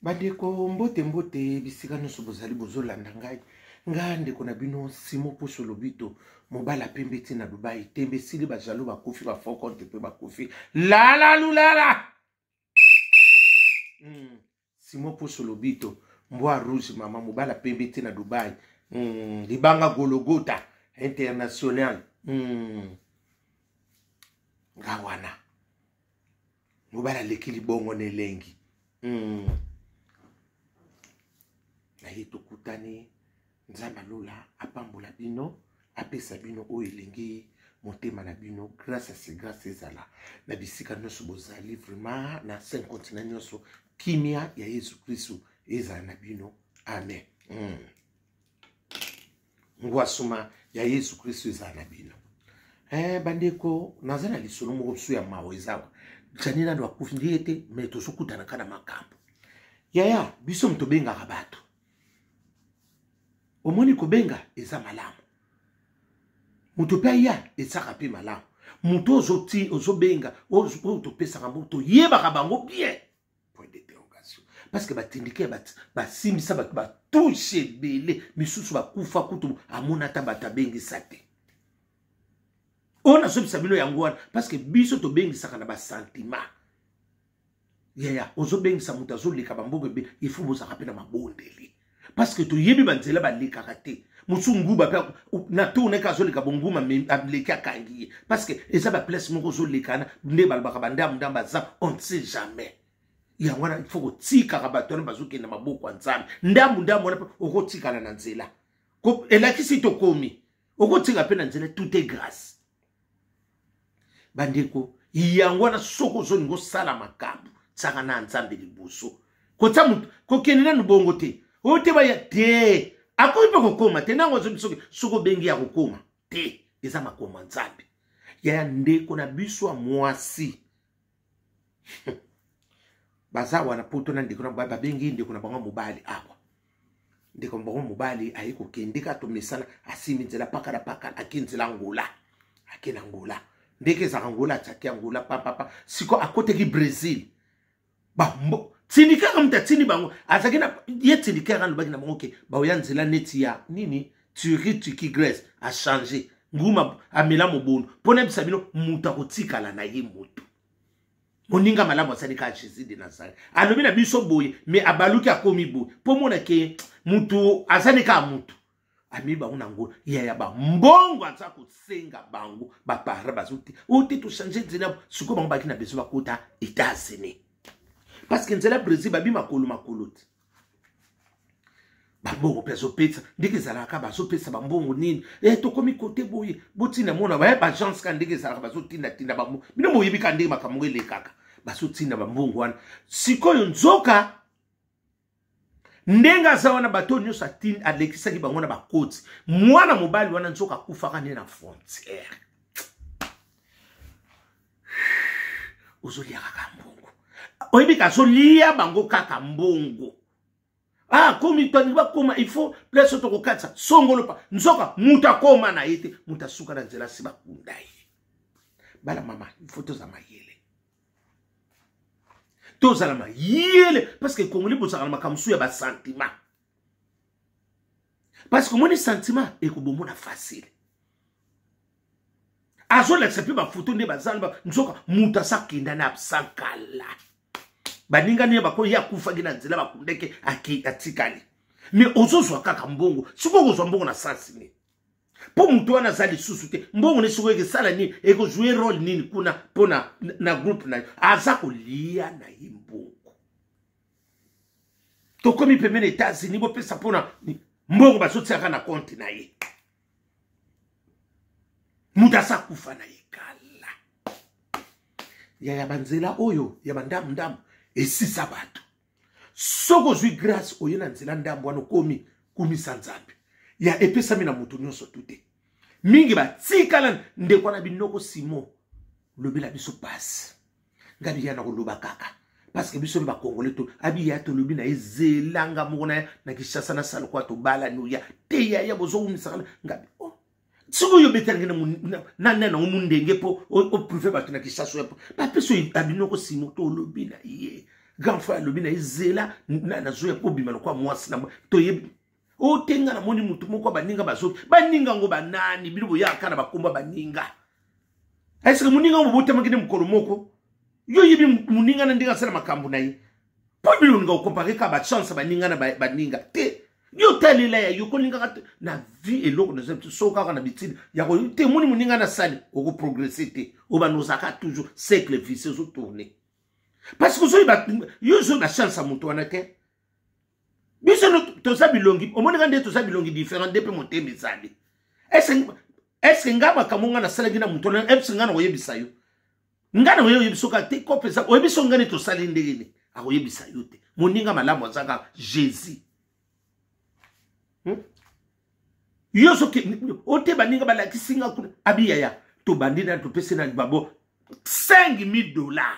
bandeko mbote mbote bisika nyonso bozali bozolanda ngai ngai ndeko na bino simo pusu lobito mobala pembe ti na dubai tembe esili bajalo bakufi bafort compte mpe bakufi lalalulala mm. simo pusu lobito mbwa rouge mama mobala pembe ti na dubai mm. libanga gologota international mm. nga wana mobali aleki libongo na elengi mm. na ye tokutani nzambe alola apambola bino apesa bino oyo elingi motema na bino grâce à ce grâce ezala na bisika nyonso bozali vraiment na cinq continent nyonso kimia ya yesu kristu ezala na bino amen mm. ngwasuma ya yesu kristo ezala na bino eh, bandeko naza na lisolo moko biso ya mawa ezawa jani nano akufi nde ye te mai tozokutanaka na makambo yaya biso moto tobengaka bato omoni kobenga eza malamu moto mpe aya ezaka mpe malamu moto ozobenga oyo topesaka mbo toyebaka bango bien point d'interrogation parce que batindiki ya basimbisa bato batushe ebele misusu bakufa kutu amona ata bato abengisa te oyo nazobisa bino yango wana parce que biso tobengisaka na basentiment yaya ozobengisa moto azoleka bamboka ebe ifo bozalaka mpe na mabondeli parce que toyebi banzela balekaka te mosusu nguba mpe na tour neke azoleka bonguma aleki akangi ye parce que eza baplace moko ozolekana nde balobaka bandambu ndambu aza on ne sait jamais yango wana il faut kotikaka bato wana bazokende maboko ya nzambe ndambu ndambu wana mpe okotikala na nzela elakisi tokomi okotika mpe na nzela tout est grâce bandeko yango wana soki ozolinga osala makambo tiaka na nzambe liboso kotya moto kokende nanu bongo te oyo te baya te akoki mpe kokoma te ntango azobi soki soki obengi ya kokoma te eza makoma nzambe ya ndeko na biso ya mwasi baza wana poto na ndeko na mobali babengi ndeko na bango mobali awa ndeko na bango mobali aye kokende ka tomesana asimi nzela paka na paka ake nzela angola ake na angola ndeke ezaka angola atiaki angola papapa siko akoteki brésil bambo tindikaka moto atindi bango azalaki na ye tindikaka alobaki na bango ke baoya nzela neti ya nini turi tiki grèce achange nguma amela mobondo mpo nayebisa bino moto akotikala na ye moto moninga malamu asali kaka jésus de nazareth alobi na biso boye me abaluki akomi boye mpo mona ke moto azali kaka moto amemi bango na ngo ya ya bambongo aza kosenga bango bapara bazo te o te tochange nzela sikoyo bango baki na besoin bakota etats-unis parce que nzela brésil babi makolo makolo te bambongo mpe azopesa ndenge ezalaka bazopesa bambongo nini e eh, tokomi kote boye botinda mona baye eh, baagence ka ndenge ezalaka bazotindatinda bambongo bino boyebi ka ndenge makambo ngo elekaka bazotinda bambongo wana sikoyo nzoka ndenge aza wana bato oyo nyonso alekisaki bango na bakoti mwana mobali wana nzoka akufaka nde na frontière ozolia kaka mbongo oyebi ka azolia bango kaka mbongo akomi ah, tani bakoma il faut place tokokatisa songolo pa nzoka moto akoma na ye te moto asuka na nzela si bakunda ye bana mama il faut toza mayele tozala mayele parce que congolais bozalaka na makambo mosusu ya basentiment parce que omoni sentiment ekobomona facile azolakisa mpe bafoto nde bazala nzoka moto asakenda na absankala baninga nini bakoyi ye akufaki na nzela bakundeke atikali me ozozwa kaka mbongo sikoyo kozwa mbongo na sansi nini mpo moto wana aza lisusu te mbongo ne sikoyo ekesala nini ekozwe role nini kuna mpo na, na groupe na yo aza kolia na ye mbongo tokomi pembeni etats-unis bopesa mpona mbongo bazotiaka na konte na ye moto aza kufa na ye kala ya ya banzela oyo ya bandamu ndamu esisa bato soki ozwi grâce oye na nzela ndambo wana okomi kumisa nzambe ya epesami na moto nyonso tu te mingi batikala ndeko wana binoko simo lobela biso pasi nga liya na koloba kaka parceke biso mba congolais to abi ya tolobi na ye zelanga moko na ya na kinshasa na salokwa tobalani oya te yaya bozowumisaka nga oh. soki oyo obetanaki na nani yango mondenge mpo oprouve bato na kinshasa oya bapesi oyo abinoko simo to olobi na ye grand frère alobi na ye zela nazoya mpo obima lokwa mwasi na toyebi otenga namoni motu moko ya baninga bazoki baninga yango banani bino boyaka na bakomba baninga eske moninga yango bobotamaki nde mokolo moko yo oyebi moninga na ndenge asala makambo na ye mpo bino olinga okompare kaka bachance baninga na baninga te yo otalela ya yo kolingaka te na vie eloko naza biso so kaka na bitini ya koyo te moni moninga nasali okoprogresse te obanda ozalaka toujours cercle vice ezotourne parce que ozoyeba yo ozoyeba chance ya moto wana te biso no toza bilongi omonaka nde toza bilongi différent nde mpe motema ezali eske ngai makambo ngai nasalaki na moto eske ngai nakoyebisa yo ngai nakoye oyebisa kaka te kope eza oyebisa ngai nde tosali ndenge nini akoyebisa yo te moninga malamu aza kaka jésus hmm? yo soki ote baninga balakisi nga kuna abiyaya tobandi na topesi na babo 5000 dollars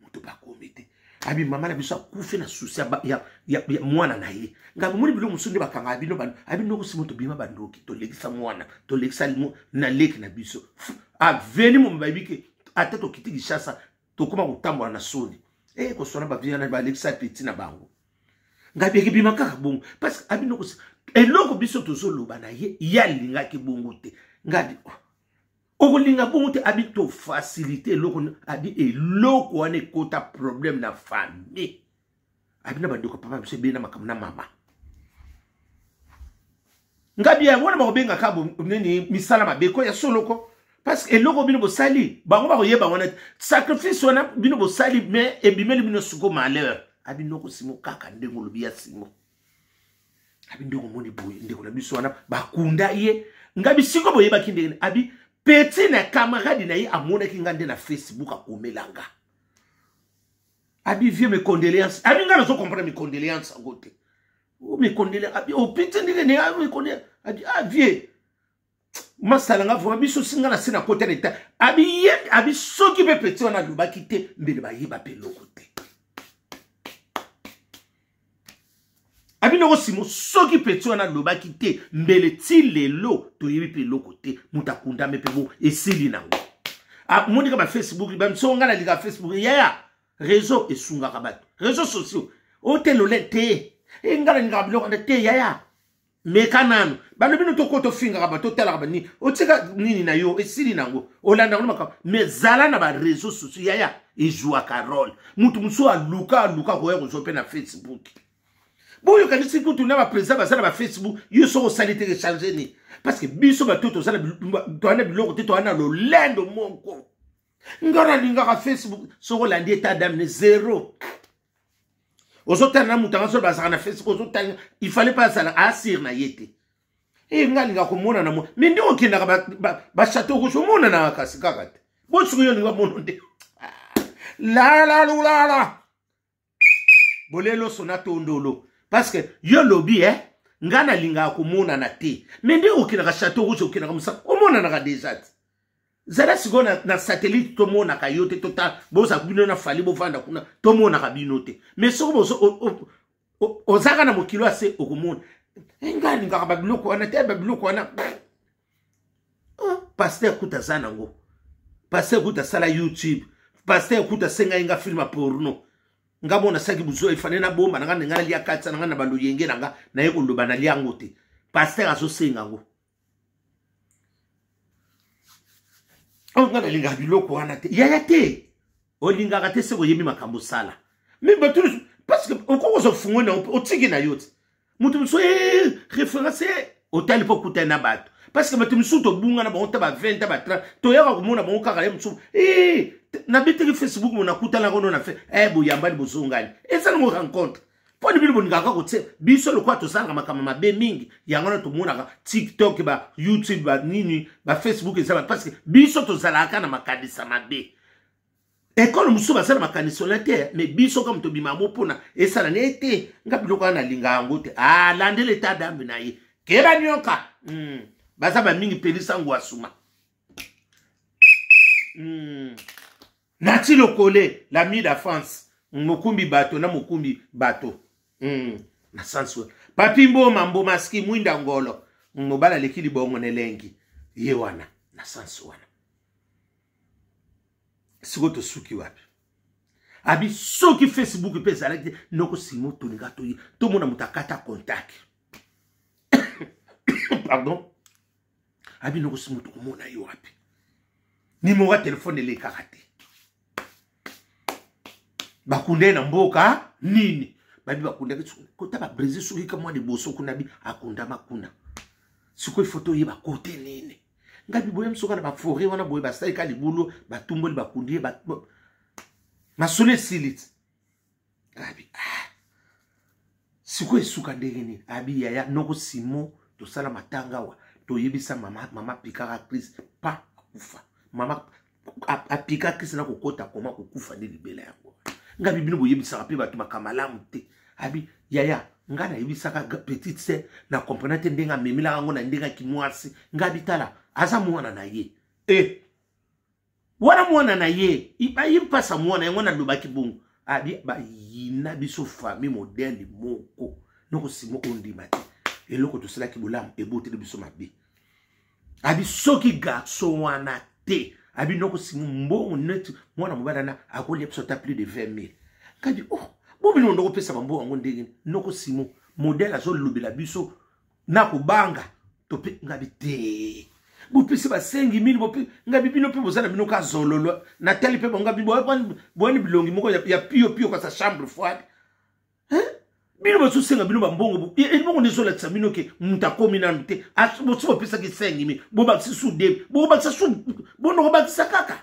moto bakomi te abi mama na biso akufi na susi ya, ya, ya, ya mwana na ye ngai bomoni biloko mosusu nde bakanga bino abi noko simo tobima bandoki tolekisa mwana tolekisa na leki na biso aveni momi bayebi ke ata tokiti kishasa tokóma kotambola na soni e eh, koswana baviana balekisa peti na bango ngai biyeke bima kaka bongo parce que abi noko eloko biso tozoloba na ye ye alingaki bongo te ngai oh. okolinga bongo te abi to facilité eloko abi eloko wana ekota problème na famille abi na bandeko papa biso ebele na makambo na mama ngabi yango wana bakobengaka nini misala mabe ko ya soloko parce que eloko bino bosali bango bakoyeba wana te sacrifice wana bino bosali mais ebimeli bino suko malheur abi noko simo kaka ndenge olobi ya simo abi nde okomoni boye ndeko na biso wana bakunda ye nga bisiko boyebaki ndenge abi peti na camarade na ye amonaki nga nde na facebook akomela nga abi vie mes condoléances abi nga nazo comprendre mes condoléances yango te mes condoléances abi opiti ndenge ne mes condoléances abi ah vie masala nga vraimen biso singa na se na kota leta abiye abi soki mpe peti wana alobaki te mbele bayeba mpe eloko te abinoko simo soki peti wana alobaki te mbele ti lelo toyebi mpe eloko te moto akundami mpe bo esili nango ah, monika bafacebook bamiso nga na lika facebook yaya réseau esungaka bato réseau sociaux otelole te enga na lingaka biloko wana te yaya meka nanu bano bino toko tofingaka ba totalaka banini otika nini na yo esili nango olandaka no makambo me zala na bareseau sociaux yaya ezuaka role moto mosusu aluka aluka koya kozwa mpe na facebook boyokanisi kutu na baprésident baza na bafacebook yo soko osali te recharge ni parce que biso bato toza na biloko te toza na lolendo moko nga nalingaka facebook soko olandi eta dame ne zero ozotala na moto yango soki bazalaka na facebook ozotala il fallait mpe azala asire na ye te e nga alinga komonana mo me nde okendaka bachateau rouge omonanaka kasi kaka te bosuku yo olinga mono nde lalalulala bolelo sona tondolo parce que yo lobi eh? ngai nalingaka komonana te me nde okendaka chateau rouge okendaka mosaka omonanaka deja te zala sikoyo na, na satellite tomonaka yo te tota boza bino na fali bovanda kuna tomonaka bino te mais soki ozaka na mokili oyo ase okomona eh, nga alingaka babiloko wana te babiloko wana oh, paster kuta aza nango paster kuta asala youtube paster kuta asengai nga filme ya porno nga mona saki buzo efane nabomba nanga ndenge nalia katisa nanga na baloyenge nanga naye koloba nalia yango te paster azosenga yango oyo oh, ngai nalingaka biloko wana te yaya te olingaka te soki oyebi makambo osala me bato parceke okoki kozwa fungo na yo mpe otiki na yo te moto mosusu eh, référence eh, otali mpo okutani na bato parceke bato mosusu tobunga na bango ta ba 20 ta ba 30 toyaka komona bango kaka ye mosusu eh, nabetaki facebook mo nakutanaka ono na fe boyambani bozongani eza nango rencontre mpo nini bino bolingaka kotia biso lokola tosalaka makambo mabe mingi yango wana tomonaka tiktok ba youtube ba nini ba facebook eza parce que biso tozalaka na makanisa mabe ekolo mosusu basala makanisi wana te me biso kama tobima yango mpona esala na ye te nga biloko wana nalinga yango te alandela ah, eta dambe na ye keba nyoka mm. baza bamingi pelisa ngwasuma mm. Nati Lokole, l'ami da France. Mokumbi bato na mokumbi bato. Mm. Na sens wa. Papi Mboma, Mboma ski, Mwinda Ngolo. Mobala leki libongo na elengi. Ye wana, na sens wana. Siko tosuki wapi? Abi soki Facebook mpe ezalaki te, noko Simon tolinga toye. Tomona moto akata contact. Pardon. abi noko si moto komona yo wapi nimero ya telefone elekaka te bakunda ye na mboka nini babi bakundaki kota babrésil soki ka mwa liboso kuna bi akundama kuna sikoyo ifo toyeba kote nini ngai biboye mosoka na baforet wana boye basalika libulu batumboli bakundi ye masolo esili ti abi ah sikoyo esuka ndenge nini abi yaya noko simon tosala matanga awa toyebisa mama mama pikaka crise pa akufa mama apika crise na kokota koma kokufa nde libela yango nga bibino boyebisaka mpe bato makambo malamu te abi yaya nga nayebisaka petite se na comprena te ndenge amemelaka yango na ndenge ya kimwasi nga bitala aza mwana na ye e eh. wana mwana na ye baye mpasa mwana yango nalobaki bongo abi bayina biso famille modele moko noko simo ondima te eloko tosalaki bolamu eboteli biso mabe abi soki garçon wana te abi noko simo mbongo neti mwana mobali wana akolia biso ata plus de 20 000 kadi oh bomino ndokopesa bambongo yango ndenge noko simo modele azolobela biso na kobanga tope ngabi te bopesi basengi mini ngabi bino mpe boza na bino ka zololo natali mpe bango ngabi boyani bilongi moko ya pio pio kasa chambre froide bino bazosenga bino bambongo ebongo nde ezolakisa bino ke moto akomi nanu te bosi bopesaki sengi mi bobakisa sude bobakisa su bonoko bakisa kaka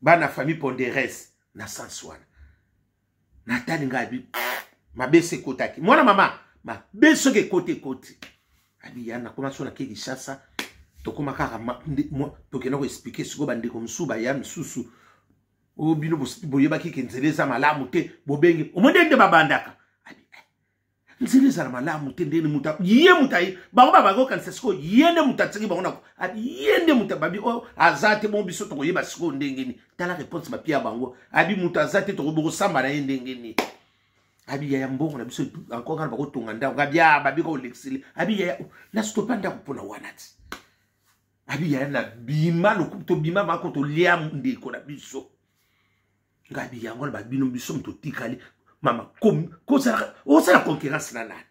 bana famille ponderes na sans wana natali ngai abi mabe se ekotaki mwana mama mabe soki ekoti ekoti abi ya nakoma so nake kinshasa tokoma kaka tokenda koexplike sikoyo bandeko mosusu baya misusu oyo bino boyebaki ke nzela eza malamu te bobenge omoni nde babandaka nzela ezala malamu te ndeni muta ye muta ye bango babaki okanisa sikoyo ye nde mutu atiki bango nako ye nde mutu babi oyo oh, aza te mo biso tokoyeba sikoyo ndenge nini tala réponse bapia ya bango abi mutu aza te tokoki bokosamba na ye ndenge nini abi yaya mbongo na biso encore ngana bakotonga ndako abi a ah, babika olekisili abi yaya oh, nastopa ndako mpona wana ti abi yaya na bima lokumu tobima mako tolia ndeko na biso ngabi yango na babino biso moto otikali mama osala concurrence na nani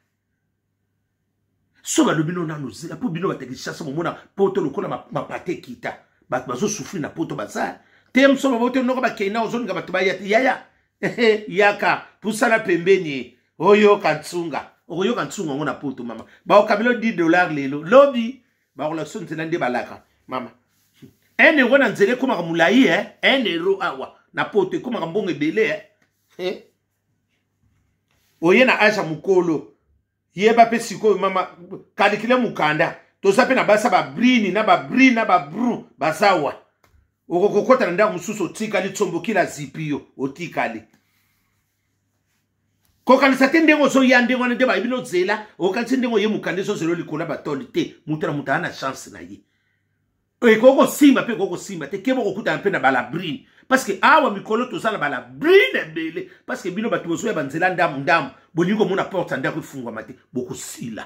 so balobi no nano zela mpo bino batekisasa momona poto lokola mapate ekita bato bazosufri na poto baza te moso baboto noko bakei na ozolinga bato baya te yaya yaka pusana pembeni oyoka nsunga okoyoka nsunga yango na poto mama baokabilo 10 dollar lelo lobi bakolakisa nzela nde balaka mama un euro na nzela ekomaka molai eh? un euro awa ah, na poto ekomaka mbongo ebele eh? eh? oye na age ya mokolo yeba mpe sikoyo mama kalikile mokanda toza mpe na basa babrini na babri na babru bazawa okokokota na ndako mosusu otikali tsombokila zipi yo otikali kokanisa te ndenge ozoya ndenge wana nde bayebi nozela okanisi ndenge oye mokanda ezozela likolo ya batoli te moto na moto aa na chance na ye ekoki kosimba mpe ekoki kosimba te keba okokutana mpe na balabrine parceke awa mikolo toza na balabrine ebele parceke bino bato bozoya banzela ndambu ndambu bolingi komona porte ya ndako efungwama te bokosila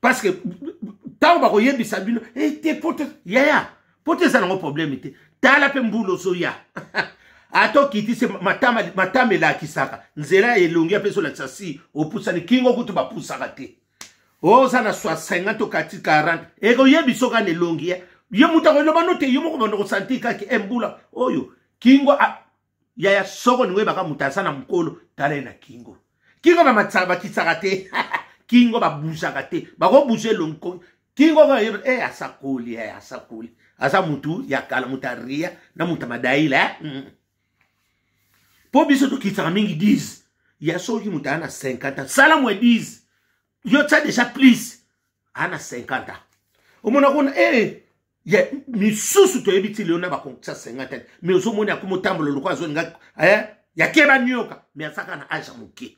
parce que ntango bakoyebisa bino ete eh, poto yaya poto eza nango probleme te tala mpe mbula ozoya ata okiti se matama, matama elakisaka nzela ya elongi mpe ezolakisa si opusani kingo kutu bapusaka te oza na 50 to kati 40 ekoyebisa oka na elongi ye moto akoyebano te yo moko banda kosanti kaki embula eh, oyo kingo yaya soko olingi oyebaka moto aza na mokolo tala ye na kingo kingo bamatisaka bakisaka te kingo babuzaka te bakobuza elongi kingo kaka yeba e asakoli e asakoli aza motu ya kala moto ya ria na moto ya madaila eh? mm. mpo biso tokisaka mingi 10 ya soki moto aya na 50 sala mwa 10 yo tya deja plus aya na 50 omona kuna e eh, ye misusu toyebi ti lelo na bakonsa 50 te mais ozomoni akoma otambola loko azolinga eh, yakeba nioka mais azaka na age ya moke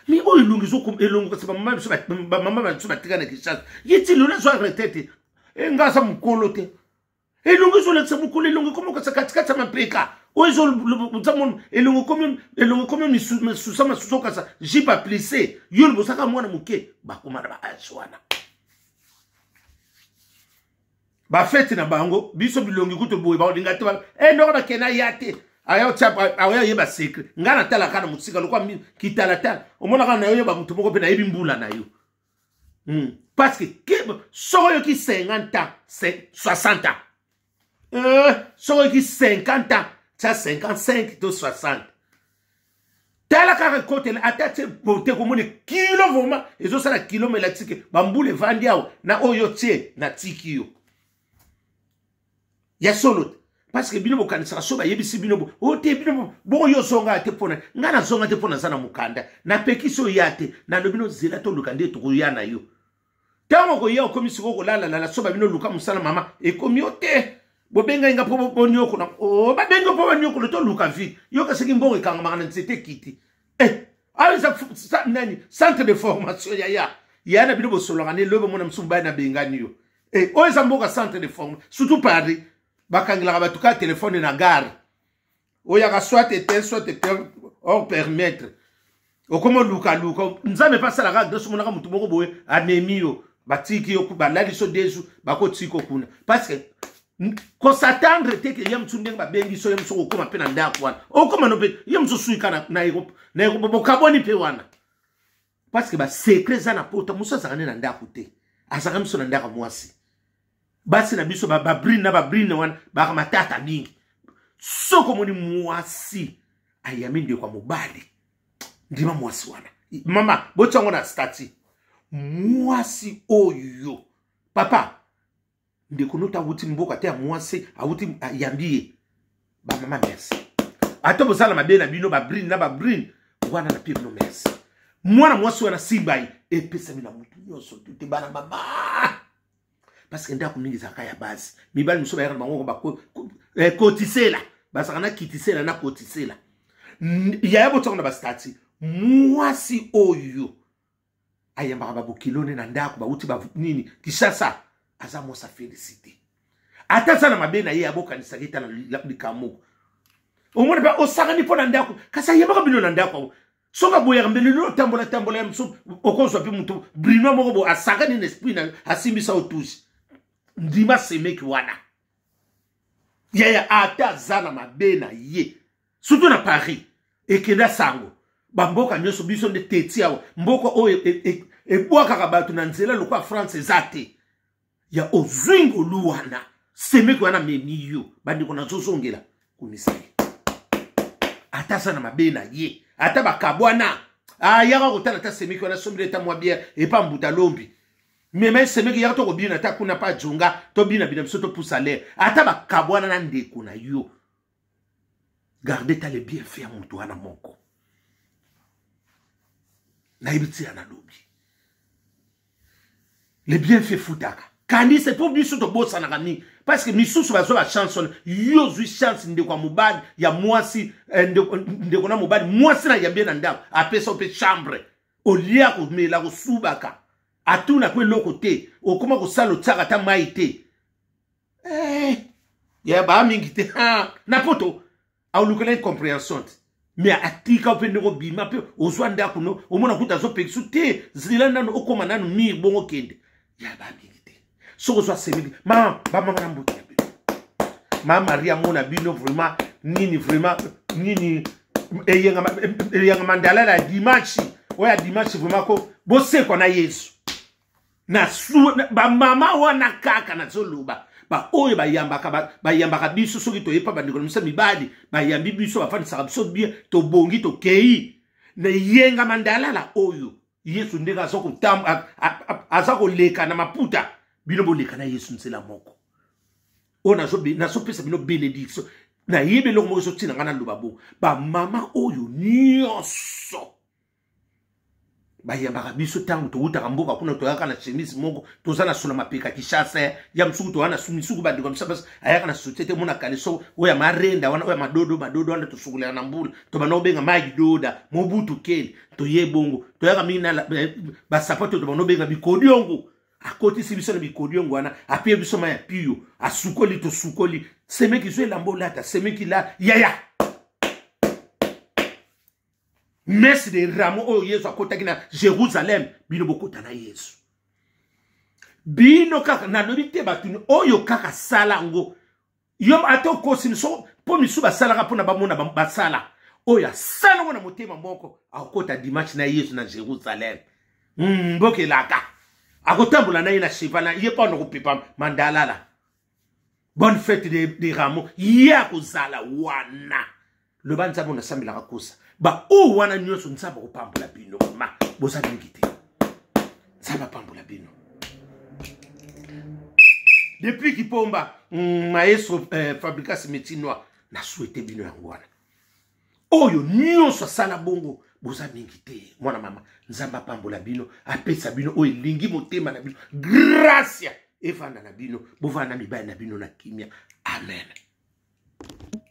mais oyo elongi ezolongo kasi bamama na biso batika na kishasa ye ti lelo azwa retraite enga aza mokolo te elongo ezolakisa mokolo elongo ekomokasa katikati ya mapeka oyo ezolobozamon elongo ekomi misusa masusa okasa jipe aplise yo libosaka mwana moke bakoma na baage wana bafeti na bango biso bilongi kutu boye bakolinga te e noko nakena ya te akoya yeba secret ngai natalaka na mosika lokwa kitalatala omonaka na yo yeba moto moko mpe nayebi mbula na yo mm. parce que soko oyoki 50 ans 60 ans euh, soko oyoki 50 ans tya 55 to 60 tala kaka ekotela ata tye bote komona kilo vraimen ezosala kilo melatike bambula evandi awa na oyo tye na tiki yo ya solo te parceke bino bokanisaka so bayebisi bino o oh, te bino bongo yo ozonga te mpona ngai nazonga te mpo naza na mokanda napekisi oya te nalobi no zela toluka nde tokoya na yo ntango okoya okomi sikoyo kolalalala so babino luka mosala mama ekomi yo te bobengai nga mpo boniokola oh, babengi mpo baniokola toluka vide yoka soki mbongo ekangamaka na nzete kiti eh aza ah, nani centre de formation ya ya ya na bino bosolaka ne lobe mona musumu bana bengani yo eh oyo eza mboka centre de formation surtout paris bakangelaka bato kaka telefone na gare oyaka soit ete soit ete or permettre okoma olukaluka nzambe mpe asalaka adresse omonaka motu moko boye amemi yo batiki yo balalisi yo desu bakotika kuna parce que ko s'attendre te ke ye mosusu ndenge babengi so ye mosusu kokoma mpe na ndako wana okoma no mpe ye mosusu suika na, na, na, na bokaboni mpe wana parce que basecret eza na pota mosusu azalaka nde na ndako te azalaka miso na ndako mwasi basi na biso babrine na babrine wana baka matata mingi soki omoni mwasi ayami ndeko ya mobali ndima mwasi wana mama botya yango na stati mwasi oyo papa ndeko nota awuti mboka te ya mwasi awuti ayambi ye bamama merci ata bozala mabe na bino babrine na babrine wana na pire no merci mwana mwasi wana simba ye epesami na motu nyonso tute bana mama parce que ndako mingi ezalaka ya base mibali mosusu bayaka na bango bakotisela eh, bazalaka na kitisela na kotisela yaya botiango na bastati mwasi oyo ayambaka babokilo ne na ndako bauti ba nini kisasa aza mwasi afélicité ata aza na mabe na ye abokanisaka ye ta na likambo moko omoni mpe osakani mpo na ndako kasi ayembaka bino na ndako yango soki aboyaka mbeli lino otambola tambola ya mosusu okozwa mpe moto brino moko bo asakani na esprit na yo asimbisa otusi ndima semeki wana yaya ata aza na mabe na ye surtout na paris ekenda sango bamboka nyonso biso nde teti awa mboka oyo ebwakaka e, e, bato na nzela lokola france eza te ya ozwi ngolu wana semeki wana memi yo bandeko nazozongela kumisa ye ata aza na mabe na ye ata bakabwana ayaka ah, kotala ata semeki wana sombeli ata mwa biere epa mbuta lombi meme semeki yaka tokobina ata kuna pa jonga tobinabina biso topusa lere ata bakabwana na ndeko na yo garde ta le bien fait ya moto wana moko nayebi tia nalobi le bien fait futaka kanisa mpo biso tobosanaka mingi parce que misusu bazwa ba chance wana yo ozwi chance ndeko ya mobali ya mwasi eh, ndeko, ndeko na mobali mwasi na yambi ye na ndako apesa yo mpe chambre olia komela kosubaka atuna mpo eloko te okoma kosala otyaka ata mai te eh, ya baa mingi te ah, na poto aolukela incomprehension te me atika mpe ndenge obima mpe ozwa ndako no omona kuta azopekisa te zela nano okoma nano mir bongo kende ya baa mingi te soki ozwa semeki mama bamama na mbote ya bino ma maria mona bino vraiment nini vraiment nini eyanga mandala ya dimanche oyo ya dimanche vraiment ko bosekwa na yesu na bamama wana kaka nazoloba baoyo bayambaka bayambaka biso soki toye mpa bandeko na biso mibali bayambi biso bafandisaka biso bien tobongi tokei na yenga mandalala oyo yesu ndenge aza koleka na maputa bino boleka na yesu nzela moko oyo nazopesa bino benediction nayebi eloko moko ezotina ngai naloba bo bamama oyo nyonso bayambaka biso ntango towutaka mboka kuna toyaka na chemise moko toza na sola mapeka kishasa eh. ya mosuku toya na misuku bandeko misa basi ayaka na sotie te mona kaleso oyo ya marenda wana oyo ya madodo madodo wana tosukolaka na mbula tobanda kobenga magi doda mobutu keli toye bongo toyaka mingi na eh, basapato tobanda kobenga bikodiongo akotisi biso na bikodiongo wana apie biso ma ya piyo asukoli tosukoli semeki zo elamba olata semeki la yaya mese de ramo oyo yezu akotaki na jérusalem bino bokota na yezu bino kaka nalobi te bato oyo kaka sala yango yo ata okosi miso mpo misu basalaka mpo na bamona basala oyo asala yango na motema moko akokota dimanche na yezu na jérusalem mboka elaka akotambola na ye na cheval na ye mpo anakopepa mandalala bonne fete de, de ramo ye akozala wana loba nzambe nasambelaka kosa baoyo wana nyonso nzambe akopambola bino ma boza mingi te nzambe apambola bino depuis kipomba mm, maestro eh, fabricas metinois na souhaite bino yango wana oyo nyonso asala bongo boza mingi te mwana mama nzambe apambola bino apesa bino oyo elingi motema na bino gracia evanda na bino bovanda na mibali na bino na kimia amen